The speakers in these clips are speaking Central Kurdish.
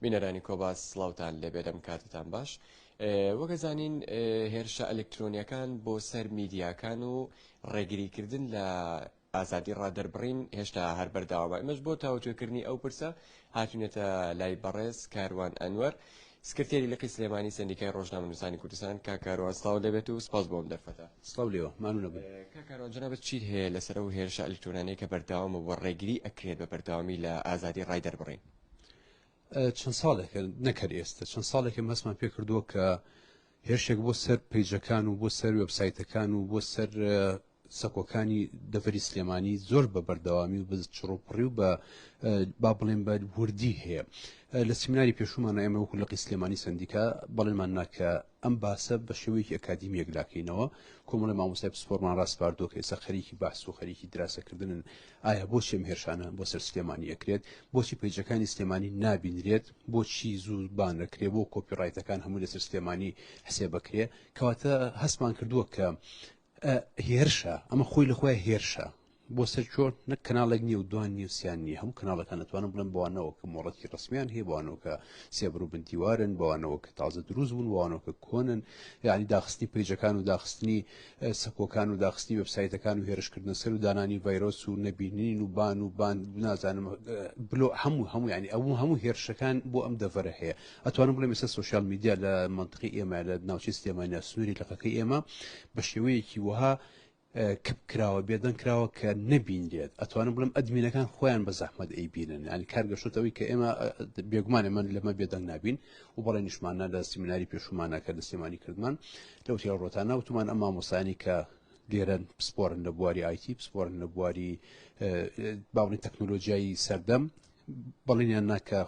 بینەرانی کۆباس سلااوان لەبێت ئەم کاتتان باش وەگەزانین هێرشە ئەلکترۆنیەکان بۆ سەر میدیاکان و ڕێگریکردن لە ئازادی ڕادەربڕین هێشتا هەر بەرداوامە ئەمەش بۆ تاوتێکردنی ئەو پرسە هاتونێتە لای بەڕێز کاروان ئەنوەر سکرتێری لقی سلێمانی سەندیکای ڕۆژنامەنووسانی کوردستان، کاک کاروان سڵاوت لێ بێت و سپاس بۆ ئەم دەرفەتە. سڵاو لێوە، ماندوو نەبن. کاک کاروان جەنابت چیت هەیە لەسەر ئەو هێرشە ئەلیکترۆنانیەی کە بەردەوامە و ڕێگری ئەکرێت بە بەردەوامی لە ئازادی ڕای دەربڕین؟ چەند ساڵێکە، نەک هەر ئێستە، چەند ساڵێکە باسمان پێ کردووە کە هێرشێک بۆ سەر پەیجەکان و بۆ سەر وێبسایتەکان و بۆ سەر سەکۆکانی دەڤەری سلێمانی زۆر بە بەردەوامی و بە چڕوپڕی و بە با بڵێن بە وردی هەیە لە سیمناری پێشومان ئێمە وەکو لەقی سلێمانی سندیکا بەڵێمان ناکە ئەم باسە بە شێوەیەکی ئەکادیمی یەکلاکەینەوە کۆمەڵی مامۆسای پسپۆرمان ڕاستپاردۆ کە ئێستا خەریکی بەحس و خەریکی دراسەکردنن ئایا بۆ شێم هێرشانە بۆ سەر سلێمانی ئەکرێت بۆچی پەیجەکانی سلێمانی نابینرێت و بۆچی زوو بان نەکرێ بۆ کۆپی ڕایتەکان هەمووی لەسەر سلێمانی حسێ بەکرێ کەواتە هەستمان کردووە کە هێرشە ئەمە خۆی لە خۆی هێرشە بۆ سەر چۆر نەک کەناڵێک نیە و دوان نیە سیان نیە هەموو کەناڵەکان دەتوانم بڵێن بوانەوە کە مۆڵەتی ڕسمیان هەیە بوانەوەکە سێبر و بنتیوارن بوانەوە کە تازە دروست بوون وانەوەکە کۆنن یعنی داخستنی پیجەکان و داخستنی سەکۆکان و داخستنی وێبسایتەکان و هێرشکردنە سەر و دانانی ڤایرۆس و نەبینین و بان و بان نازانم بلۆ هەموو هەموو ینی ئەو هەموو هێرشەکان بۆ ئەم دەڤەرە هەیە ئەتوانم بڵێ مەسە سوسیال میدیا لە منطقی ئێمە لە ناوچەی سلێمانیا سنووری لەقەکەی ئێمە بە شێوەیەکی وەها کپ کراوە بێدەنگ کراوە کە نەبینرێت ئەتوانم بڵم ئەدمینەکان خۆیان بە زەحمەت ئەی بینن ئەنی کارگەشتەوەی کە ئێمە بێگومانێ من لەمە بێدەنگ نابین و بەڵێ نیشمانە لە سیمیناری پێشومانە کە لە سلێمانی کردمان لەو تێڕۆتە ناوتمان ئەم مامۆستایانی کە لێرەن پسپۆرن لە بواری ئایتی پسپۆرن لە بواری باڵی تەکنۆلۆژیایی سەردەم بەڵێنیان ناکە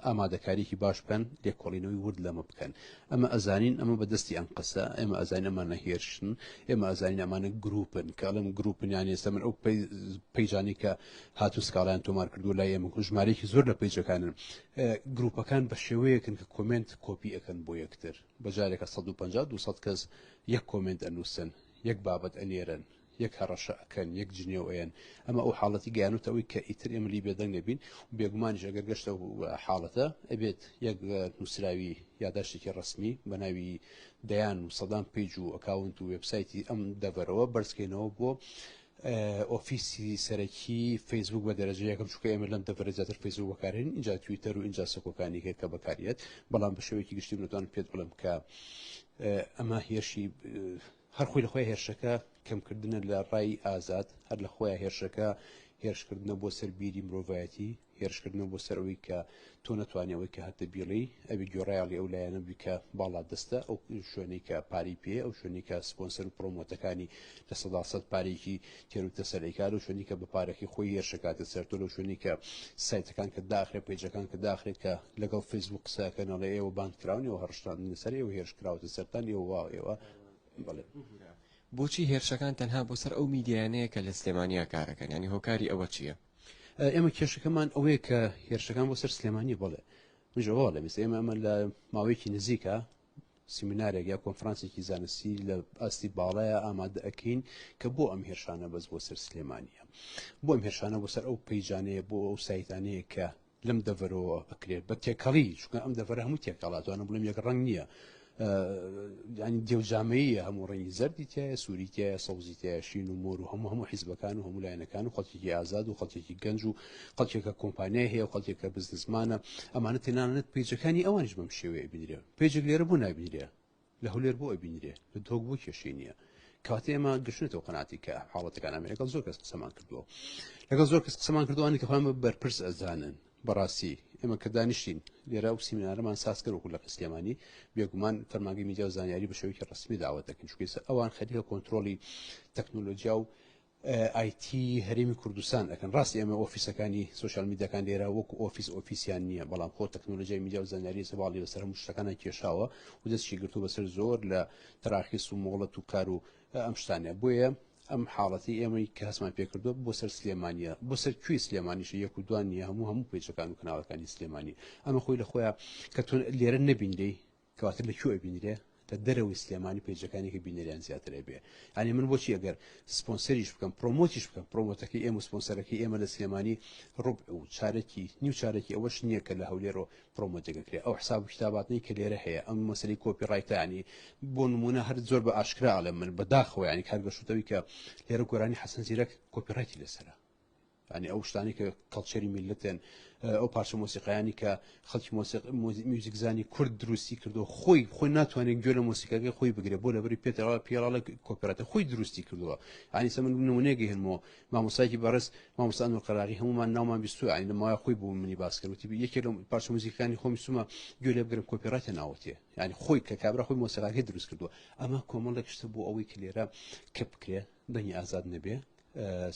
ئامادەکاریکی باش بکەن لێکۆڵینەوەی ورد لەمە بکەن ئەمە ئەزانین ئەمە بەدەستی ئەم قسە ئێمە ئەزانین ئەمانە هێرشن ئێمە ئەزانین ئەمانە گروپن کاڵم گروپنیان ئێستا من ئەو پەیجانی کە هاتو سکاڵیان تۆمار کردو لای ئێمە ژمارەیەکی زۆر لە پەیجەکانن گروپەکان بە شێوەیەکن کە کۆمنت کۆپی ئەەکەن بۆ یەکتر بە جارێکە سەد و پەنجا دوو سەد کەس یەک کۆمێنت ئەنووسن، یەک بابەت ئەنێرن، یەک هەڕەشە ئەکەن، یەک جنێو ئەیەن، ئەمە ئەو حاڵەتی گەیانۆتە ئەوەی کە ئیتر ئێمە لێی بێدەنگ نەبین و بێگومانیش ئەگەر گەشتە ئەو حاڵەتە ئەبێت یەک نووسراوی یاداشتێکی ڕەسمی بە ناوی دەیان و سەدان پەیج و ئەکاونت و وێبسایتی ئەم دەڤەرەوە بەرزکەینەوە بۆ ئۆفیسی سەرەکی فەیسبووک بە دەرەجە یەکەم چونکە ئێمە لەم دەڤەرە زیاتر فەیسبووک بەکارهێنین ئینجا تویتەر و ئینجا سەکۆکانی هەیە کە بەکاریێت بەڵام بە شێوەیەکی گشتی منتوان پێت بڵێم کە ئەمە هێرشی هەر خۆی لە خۆی هێرشەکە کەمکردنە لە ڕای ئازاد هەر لە خۆیان هێرشەکە هێرشکردنە بۆ سەر بیری مرۆڤایەتی هێرشکردنەوە بۆ سەر ئەوەی کە تۆ نەتوانی ئەوەی کە هەتە بیڵی ئەوی گۆڕایڵی ئەو لایەنە بووی کە باڵا دەستە ئەو شوێنەی کە پاری پێ ئەو شوێنی کە سپۆنسەر و پرۆمۆتەکانی لە سەدا سەد پارێکی تێروتە سەرێکار و شوێنی کە بە پارەکەی خۆی هێرشەکاتە سەرتۆ لەو شوێنی کە سایتەکان کە داخرێ پێجەکان کە داخرێت کە لەگەڵ فەیسبوو قسەکەنەڵێ ئێوە باند کراون ئێوە هەڕشتان سەر ئێوە هێرش کراوەتە سەران ئێوە وا ئێوە بڵێ بۆچی هێرشەکان تەنها بۆ سەر ئەو میدیانەیە کە لە سلێمانیا کارەکەن ینی هۆکاری ئەوە چییە؟ ئێمە کێشەکەمان ئەوەیە کە هێرشەکان بۆ سەر سلێمانی بڵێ منژەوە لە میس ئێمە ئەمە لە ماوەیەکی نزیکە سیمینارێک یا کۆنفرانسێکی زانستی لە ئاستی باڵایە ئامادە ئەەکەین کە بۆ ئەم هێرشانە بەس بۆ سەر سلێمانە بۆ ئەم هێرشانە بۆ سەر ئەو پەیجانەیە بۆ ئەو سایتانەیە کە لەم دەڤەرەوە ئەکرێت بە تێکەڵی چونکە ئەم دەڤەرە هەموو تێکەڵاتوانە بڵێم یەک ڕنگ نییە ینی دێوجامەیە هەموو ڕنگی زەردی تایە سووری تایە سەوزی تایشین و مۆر و هەموو هەموو حیزبەکان و هەموو لایەنەکان و خەڵکێکی ئازاد و خەڵکێکی گەنج و خەڵکێکە کۆمپانیای هەیە و خەڵکێکە بزنسمانە ئەمانە تێنانەت پیجەکانی ئەوانش بەم شێوەیە بینرێ پێجێک لێرە بۆ نابینرێ لە هەولێر بۆ ئەبینرێ لە دهۆک بۆ کێشەی نییە کاتە ئێمە گەشتێتەوە قەناتی کە حاڵەتەکان ئەمە لەگەڵ زۆر کەس قسەمان کردووە لەگەڵ زۆر کەس قسەمان کردوانی کە خۆیان بە بەرپرس ئەزانن بەڕاستی ئێمە کە دانیشتین لێرا و سیمینارەمان ساز کردوەکو لە قسلێمانی بێگومان فەرماگەی میدیا و زانیاری بە شێوەیەکی ڕسمی داوەتەکەن چکەسە ئەوان خەریکە کۆنتترۆلی تەکنۆلۆژیا و ئای تی هەرێمی کوردستان ئەکەن ڕاستی ئەمە ئۆفیسەکانی سوسیال میدیاکان لێرە وەکو ئۆفیس ئۆفیسیان نییە بەڵام خۆ تەکنۆلۆژیای میدیا و زانیاری سەواڵی بەسەر هەموو شتەکانە کێشاوە و دەستی گرتو بەسەر زۆر لە تەراخیس و مۆڵەت و کار و ئەم شتانە بۆیە ئەم حاڵەتی ئێمەی کە هەسمان پێکردووە بۆ سەر سلێمانە بۆ سەر کوی سلێمانیشە یەک و دوان نیە هەموو هەموو پێچەکان و کەناڵەکانی سلێمانی ئەمە خۆی لە خۆیان کە تۆ لێرە نەبین لی کەواتە لە کوێ ئەبینرێ؟ لە دەرەوەی سلێمانی پەیجەکانی کە بینەریان زیاتر ئەبێ یانی من بۆچی ئەگەر سپۆنسەریش بکەم پرۆمۆتیش بکەم پرۆمۆتەکەی ئێمە سپۆنسەرەکەی ئێمە لە سلێمانی ڕوب و چارەکی نیو چارەکی ئەوەش نییە کە لە هەولێرەوە پرۆمۆتەکەکرێ ئەو حساب و کتاباتنی کە لێرە هەیە ئەم مەسەری کۆپی ڕایتانی بۆ نمونە هەر زۆر بە ئاشکرا ئەڵێ من بەداخەوە ینی کارگەشتەوەی کە لێرە گۆرانی حەسەن زیرەک کۆپی ڕایتی لەسرە یانی ئەو شتانی کە کەڵچەری میلەتێن ئەو پارچە مۆسیقایانی کە خەڵکی میوزیکزانی کورد دروستی کردو خۆی خۆی ناتوانێت گوێ لە مۆسیقاگەی خۆی بگرێت بۆ لەبری پێتەوە پیاڵە کۆپراتە خۆی دروستی کردووە ئانی سەمن نمونێگە هێنمەوە مامۆسایکی بەڕست مامۆسان و قەراغی هەمومان ناومان بیستوی ئاین لەماوای خۆی بوو منی باسکردوتی یەکێ لە پارچە موزیکانی خۆمی سومە گوێ لێ بگرم کۆپیراتە ناوتێ ینی خۆی کە کابرا خۆی مۆسیقاگەی دروست کردووە ئەمە کۆمەڵێک شتە بۆ ئەوەی کە لێرە کە بکرێ دەنگی ئازاد نەبێ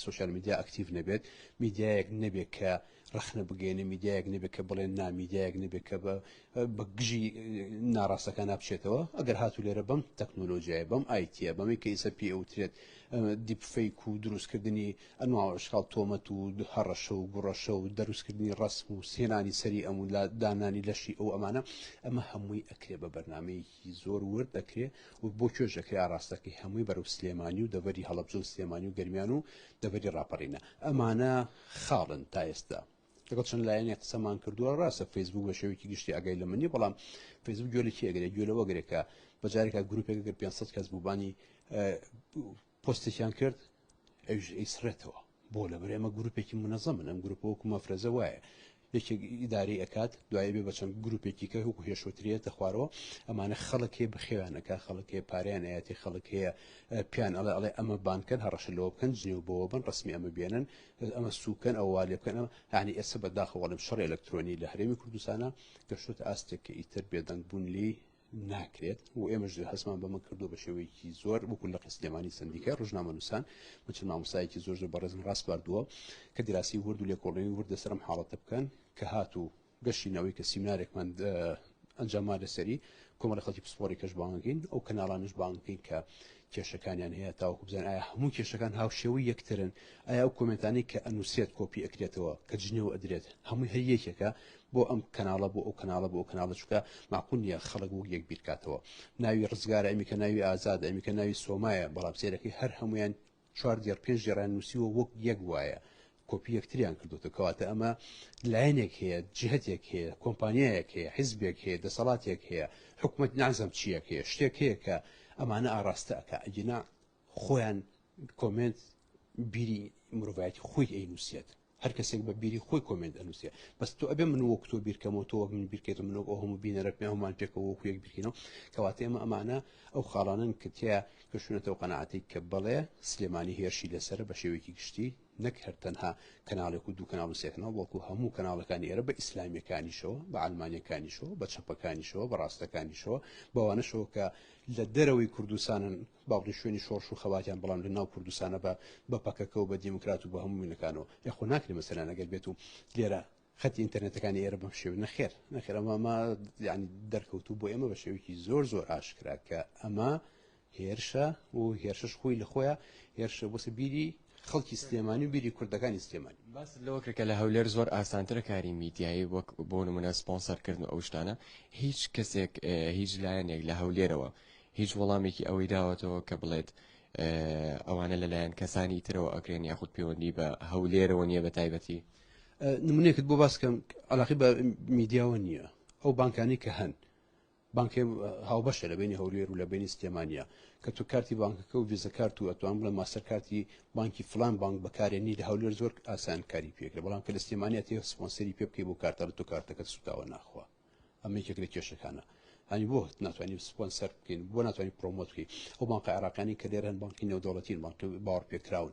سۆشیال میدیا ئەکتیڤ نەبێت میدیایەک نەبێت کە ڕخنە بگەێنێ میدیایەک نەبێت کە بڵێن نامیدیایەک نەبێت کە بە بە گژی ناڕاستەکە نابچێتەوە ئەگەر هاتو لێرە بم تەکنۆلۆژیای بم ئایتە بەمی کە ئیسە پێ ئەوترێت دیپفیک و دروستکردنی ئەنواڵشخاڵ تۆمەت و هەڕەشە و گوڕەشە و دروستکردنی ڕسم و سێنانی سەری ئەمون لە دانانی لەشی ئەو ئەمانە ئەمە هەمووی ئەکرێ بە بەرنمەیەکی ی زۆر ورد دەکرێ و بۆ کێش دەکرێ ئاڕاستەکەی هەمووی بەرەو سلێمانی و دەڤەری هەڵەبجە و سلێمانی و گەرمیان و دەڤەری ڕاپەڕینە ئەمانە خاڵن تا ئێستا لەگەڵ چەند لایەنێک قسەمان کردووە ڕاستە فەیسبوک بە شێوەیەکی گشتی ئاگای لەمە نیە بەڵام فەیسبوک گوێ لە کێ ئەگرێ گوێ لەوە گرێ کە بە جارێکا گروپێک گەر 500 کەس بووبانی پۆستێکیان کرد ئەویش ئەیسڕێتەوە بۆ لەبەر ئێمە گروپێکی منەزەمن ئەم گروپە وەکو مەفرەزە وایە یەکێک ئیداری ئەکات دوای بێ بەچەند گروپێکی کە هوکو هێشوترێتە خوارەوە ئەمانە خەڵکێ بخێوانەکە خەڵکێ پاریان ئاەتی خەڵک هەیە پیان ئەڵێ ئەڵێ ئەمە بانکەن هەڕەشە لەوە بکەن جنێو بەوە بن ڕسمی ئەمە بێنن ئەمە سوکەن ئەووا لێ بکەن ئەمە هاانی ئێستا بەداخەوەڵم شەڕ ئەلکترۆنی لە هەرێمی کوردستانە گەشتوتە ئاستێک کە ئیتر بێدەنگ بوون لی ناکرێت و ئێمەش هەستمان بەمە کردو بە شێوەیەکی زۆر وەکو لە قسلێمانی سندیکای ڕژنامە نووسان من چ مامۆسایەکی زۆر زۆر بەڕێزم ڕاست باردووە کە دراسی ورد و لێکۆڵێنی وردە سەرم حاڵەتە بکەن کە هاتوو گەشتینەوەی کە سیمنارێکمان ئەنجاممان لەسەری کۆمەڵە خەڵکی پسپۆری کەش بانگین ئەو کەناڵانش بانگین کە کێشەکانیان هەیە تاوەکو بزان ئایا هەموو کێشەکان هاوشێوەی یەکترن ئایا ئەو کۆمنتانی کە ئەنووسێت کۆپی ئەکرێتەوە کە جنێو ئەدرێت هەمووی هەر یەکێکە بۆ ئەم کەناڵە بۆ ئەو کەناڵە بۆ ئەو کەناڵە چکە ماقول نیە خەڵک وەک یەک بیرکاتەوە ناوی ڕزگارە ئەمیکە ناوی ئازاد ئەمیکە ناوی سۆمایە بەڵام سێرەکەی هەر هەمویان چوار دێڕ پێنج دێڕان نووسیوە وەک یەک وایە کۆپی یەکتریان کردوتە کەواتە ئەمە لایەنێک هەیە جهتێک هەیە کۆمپانیایەک هەیە حیزبێک هەیە دەسەڵاتێک هەیە حکوومەت نازم چیەک هەیە شتێک هەیە کە ئەمانە ئاراستەکە ئەگینا خۆیان کۆمنت بیری مرۆڤایەتی خۆی ئەی نووسێت هەر کەسێک بە بیری خۆی کۆمێنت ئەنووسێ بەس تۆ ئەبێ من وەک تۆ بیرکەمەوە تۆ وەک من بیرکەیت من وەک ئەو هەموو بینەرەکمێ هەمان پێکەوە وەکو یەک بیرکەینەوە کەواتە ئێمە ئەمانە ئەو خاڵانن کە تیا گەشتونەتەوە قەنەعاتی کە بڵێ سلێمانی هێرشی لەسرە بە شێوەیەکی گشتی نەک هەر تەنها کەناڵێک و دوو کەناڵ و سێکناڵ بەڵکو هەموو کەناڵەکانی ئێرە بە ئیسلامیەکانیشەوە بە ئەلمانیەکانیشەوە بە چەپەکانیشەوە بە ڕاستەکانیشەوە بەوانەشەوە کە لە دەرەوەی کوردستانن باوکت شوێنی شۆڕش و خەباتیان بەڵام لە ناو کوردستانە بە بە پەکەکە و بە دێموکرات و بە هەموو وینەکانەوە ئێ خۆ ناکرێ مەسەلەن ئەگەر بێت و لێرە خەتی ئینتەرنێتەکانی ئێرە بەم شێوە نەخێر نەخێر ئەمە ئەمە یعنی دەرکەوتوو بۆ ئێمە بە شێوەیەکی زۆر زۆر ئاشکرا کە ئەمە هێرشە و هێرشش خۆی لە خۆیان هێرشە بۆسە بیری خەڵکی سلێمانی و بیری کوردەکانی سلێمانی باس لەوە کرد کە لە هەولێر زۆر ئاسانترە کاری میدیایی وەک بۆ نمونە سپۆنسەرکردن و ئەو شتانە هیچ کەسێک هیچ لایەنێک لە هەولێرەوە هیچ وەڵامێکی ئەوەی داوەتەوە کە بڵێت ئەوانە لەلایەن کەسانی ترەوە ئەکرێن یاخود پەیوەندی بە هەولێرەوە نییە بە تایبەتی نمونێکت بۆ باسکەم علاقی بە میدیاوە نییە ئەو بانکانی کە هەن بانکێ هاوبەشە لە بینی هەولێر و لە بینی سلێمانیا کە تو کارتی بانکەکە و ویزە کارت و ئەتوان بڵێ ماستەر کارتی بانکی فلان بانک بەکارێنی لە هەولێر زۆر ئاسان کاری پێکرێ بەڵام کە لە سلێمانیا تێ سپۆنسەری پێ بکەی بۆ کارتە لە تو کارتەکەت سوتاوە ناخوا ئەمە یەکێک لە کێشەکانە هەنی بۆ ناتوانانی سپۆنسەر بکەین بۆ ناتوانانی پرۆمۆت بکەین ئەو بانقە عێراقانی کە لێرەن بانکی نێودەوڵەتین بانک باوەڕ پێکراون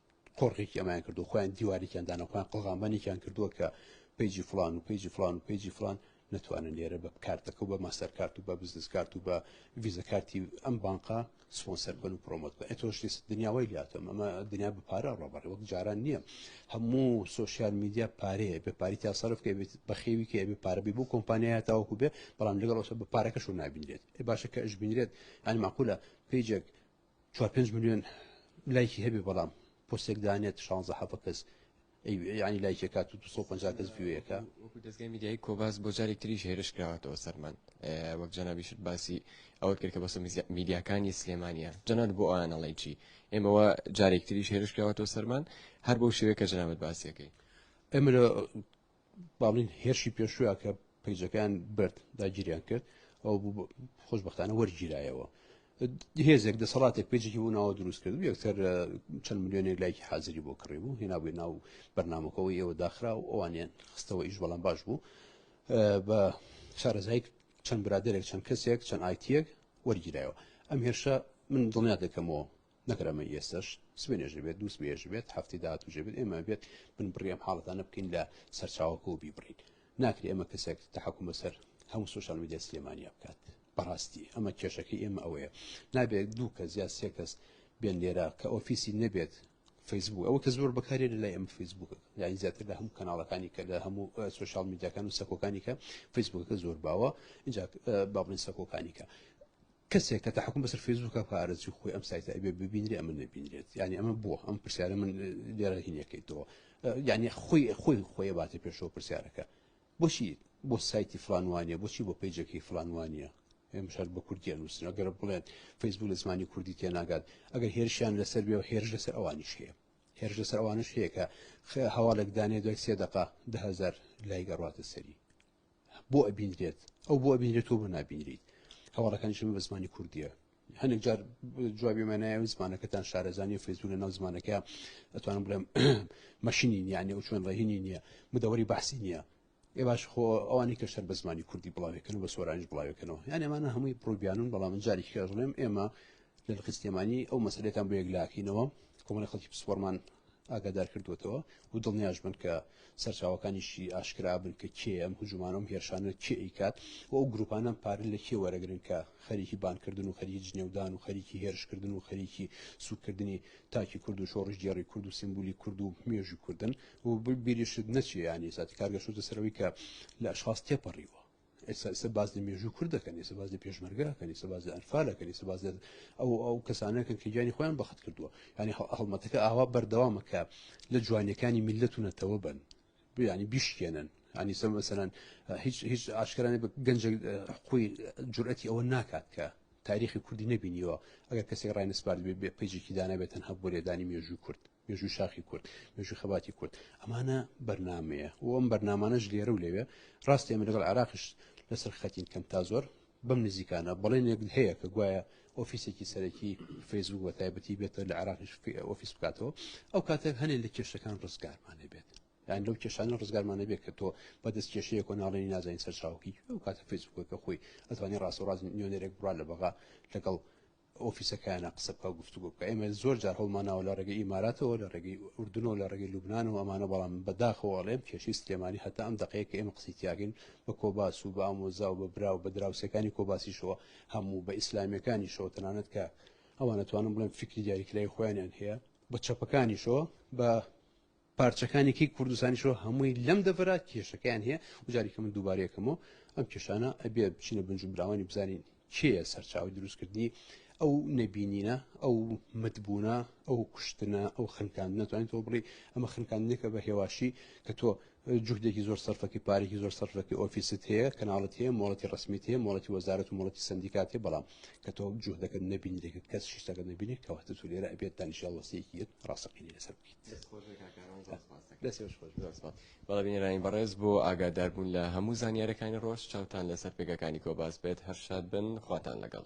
قۆرغێکی ئەمایان کردو خۆیان دیوارێکیان دانە خۆیان قڵغامبانێکیان کردووە کە پیجی فلان و پیجی فلان و پیجی فلان نتوانن لێرە بە کارتەکە و بە ماستەرکارت و بە بزنس کارت و بە ویزەکارتی ئەم بانقا سپۆنسەر بن و پرۆمۆت بە ئەتۆش دنیاوای لاتم ئەمە دنیا بە پارە ڕۆبەڕێ وەک جاران نییە هەموو سوسیال میدیا پارەیە بە پاری تا سەرف کە بێت بەخێوی کە بێ پارە بێ بۆ کۆمپانیایە تاوەکو بێ بەڵام لەگەڵ بە پارەکەش و نابینرێت باشە کە ئەش بینرێت ئەنی ماقولە پیجێک چوار پێنج ملیۆن لایکی هەبێ بەڵام پۆستێک دانێت شانزە حەفە کەس ینی لایکی کات و 250 کەس وێەکە دەستگای میدیای کۆباس بۆ جارێک تریش هێرش کراوەتەوە سەرمان وەک جەنابیشت باسی ئەوەت کرد کە بەسە میدیاکانی سلێمانە جەنات بۆ ئەوانەڵی چی ئێمەوە جارێک تریش هێرش کراوەتەوە سەرمان هەر بۆ شێوەیە کە جەنابەت باسیەکەی ئەمە با بڵین هێرشی پێشووە کە پیجەکان برد داگیریان کرد ئەو خۆشببختانە وەرگیرایەوە هێزێک دەسەڵاتێک پێجێکی بۆ ناوە دروست کرد یەکتر چەند میلیۆنێک لایکی حاضری بۆ کڕی بوو هێنا بووی ناو بەرنمەکەەوە ئێوە داخرا و ئەوانیان خستەوە ئیش بەڵام باش بوو بە شارەزایک چەند برادێک چەند کەسێک چەند ئایتیەک وەرگیرایەوە ئەم هێرشە من دڵنیا دەکەمەوە نەکەر ئەمە ئێستەش سبێنێش بێت دووس بێژ بێت هەفتی داهات و ژێبێت ئێمە بێت بن بڕیەم حاڵەتانە بکەین لە سەرچاوەکە و بیبڕین ناکرێ ئەمە کەسێک تحکم بەسەر هەموو سوۆشال میدیا سلێمانیا بکات بەڕاستی ئەمە کێشەکەی ئێمە ئەوەیە نابێت دوو کەس یا سێ کەس بێن لێرە کە ئۆفیسی نەبێت فەیسبوو ئەوە کە زۆر بەکارێ لە لای ئەم فەیسبووکە یانی زیاتر لە هەموو کەناڵەکانی کە لە هەموو سوۆشال میدیاکان و سەکۆکانی کە فەیسبووکەکە زۆر باوە اینجا بابڵین سەکۆکانی کە کەسێک کە تحکم بەسەر فەیسبووکە بکە ئارەزوی خۆی ئەم سایتە ئەبێ ببینرێ ئەمە نەبینرێت یعنی ئەمە بووە ئەم پرسیارە من لێرە هینەکەیتەوە یعنی خۆی خۆی خۆی باتە پێشەوە پرسیارەکە بۆچی بۆ سایتی فلانوانە بۆچی بۆ پیجەکەی فلانوانە مشار بە کوردیان نووسن ئەگەر بڵێن فەیسبوو لە زمانی کوردی تێناگات ئەگەر هێرشیان لەسەر بێ و هێرش لەسەر ئەوانیش هەیە هێرش لەسەر ئەوانش هەیە کە هەواڵێک دانێ دوای سێ دقا دههزار لای گەڕاتە سەری بۆ ئەبینرێت ئەو بۆ ئەبینرێت تۆ بۆ نابینریت هەواڵەکانی شمە بە زمانی کوردیە هەندێک جار جوابی مەنایە و زمانەکەتان شارەزانانی فەیسبوو لە ناو زمانەکە ئەتوانم بڵێم مەشینی نیانە و چۆن ڕێهینی نییە مدەوەری بەحسی نییە ئێ باش خۆ ئەوانی کە شەر بە زمانی کوردی بڵاوێکن و بە سۆرانیش بڵاوێکنەوە یان ئەمانە هەمووی پرۆبیانون بەڵام جارێکی کەژڵێم ئێمە لە لقی سلێمانی ئەو مەسلەتان بۆ یەکلاکەینەوە کۆمەڵی خەڵکی پسپۆرمان ئاگادار کردوێتەوە و دڵنیاش بن کە سەرچاوەکانیشی ئاشکرابن کە کێ ئەم هجوومانەم هێرشانە کێ ئیکات و ئەو گروپانە پارە لە کێ وەرەگرن کە خەریکی بانکردن و خەریکی جنێودان و خەریکی هێرشکردن و خەریکی سوکردنی تاکی کورد و شۆڕش گێڕی کورد و سیمبولی کورد و مێژی کوردن و بیریشت نەچیانی ساتی کارگەشتە سەرەوەی کە لە ئەشخاص تێپەڕیوە ئێستا ئێستا باس لە مێژوو کورد دەکەن ئێستا باس لە پێشمەرگەکەن ئێستا باس لە ئەنفالەکەن ئێستا باس ئەو ئەو کەسانەکەن کە گیانی خۆیان بەخت کردووە ینی هەڵمەتەکە ئاوا بەردەوامە کە لە جوانیەکانی میلەت و نەتەوە بن بیانی بیشکێنن ینی سە مەسەرەن هیچ هیچ ئاشکرانە بە گەنج حقوی جورئەتی ئەوە ناکات کە تاریخی کوردی نبینیوە ئەگەر کەسی ڕای نسپارد بێ بێ پیجێکی دانابێت تەنها بۆ لێدانی مێژووی کورد مێژووی شاخی کورد مێژووی خەباتی کورد ئەمانە بەرنمەیە و ئەم بەرنمانەش لێرە و لەوێ ڕاستی ئەمە لەگەڵ عراقش لەسەر خەتین کەم تا زۆر بەم نزیکانە بەڵێنێک هەیە کە گوایە ئۆفیسێکی سەرەکی فەیسبوک بە تایبەتی بێتە لە عراقیش ئۆفیس بکاتەوە ئەو کاتێک هەنێ لە کێشەکان ڕزگارمانە بێت یان لەو کێشانە ڕزگارمانە بێت کە تۆ بەدەست کێشەیە کۆ ناڵێنی نازانین سەرچاوکی ئەو کاتە فەیسبوکەکە خۆی ئەتوانی ڕاستەڕاز نوێنەرێک بڕا لە بەغا لەگەڵ ئۆفیسەکەیانە قسە بکا و گفتوگۆ بکا ئێمە زۆر جار هەوڵمان ناوە لە ڕێگەی ئیماراتەوە لە ڕێگەی ئوردنەوە لە ڕێگەی لوبنان و ئەمانە بەڵام بە داخەوە ئەڵێم کێشەی سلێمانی هەتا ئەم دەقەیە کە ئێمە قسەی تیاکەین بە کۆباس و بە ئامۆزا و بە برا و بە دراوسێکانی کۆباسیشەوە هەموو بە ئیسلامیەکانیشەوە تەنانەت کە ئەوان ئەتوانم بڵێم فیکری دیاریکراوی خۆیانیان هەیە بە چەپەکانیشەوە بە پارچەکانی کەی کوردستانیشەوە هەمووی لەم دەڤەرا کێشەکەیان هەیە و جاریکە من دووبارەیەکەمەوە ئەم کێشانە ئەبێ بچینە بنجوبراوانی بزانین کێە سەرچاوی دروستکردنی ئەو نەبینینە ئەو متبوونە ئەو کوشتنە ئەو خنکان ناتوانین تۆ بڵی ئەمە خنکاندنێکە بە هێواشی کە تۆ جوهدێکی زۆر سەرفەکەی پارێکی زۆر سەرفەکەی ئۆفیست هەیە کەناڵەت هەیە مۆڵەتی ڕسمیت هەیە مۆڵەتی وەزارەت و مۆڵەتی سندیکات هەیە بەڵام کە تۆ جوهدەکە نەبینی دەکرد کەس شیشتەکە نبینێت کەواتە تو لێرە ئەبێت دانیشە وەسیەکی ڕاستەقینی لەسەر بکەیت بەڵێ بینەرانی بەڕێز بۆ ئاگاداربوون لە هەموو زانیارەکانی ڕۆژ چاوتان لەسەر پێگەکانی کۆباس بێت هەر شاد بن خواتان لەگەڵ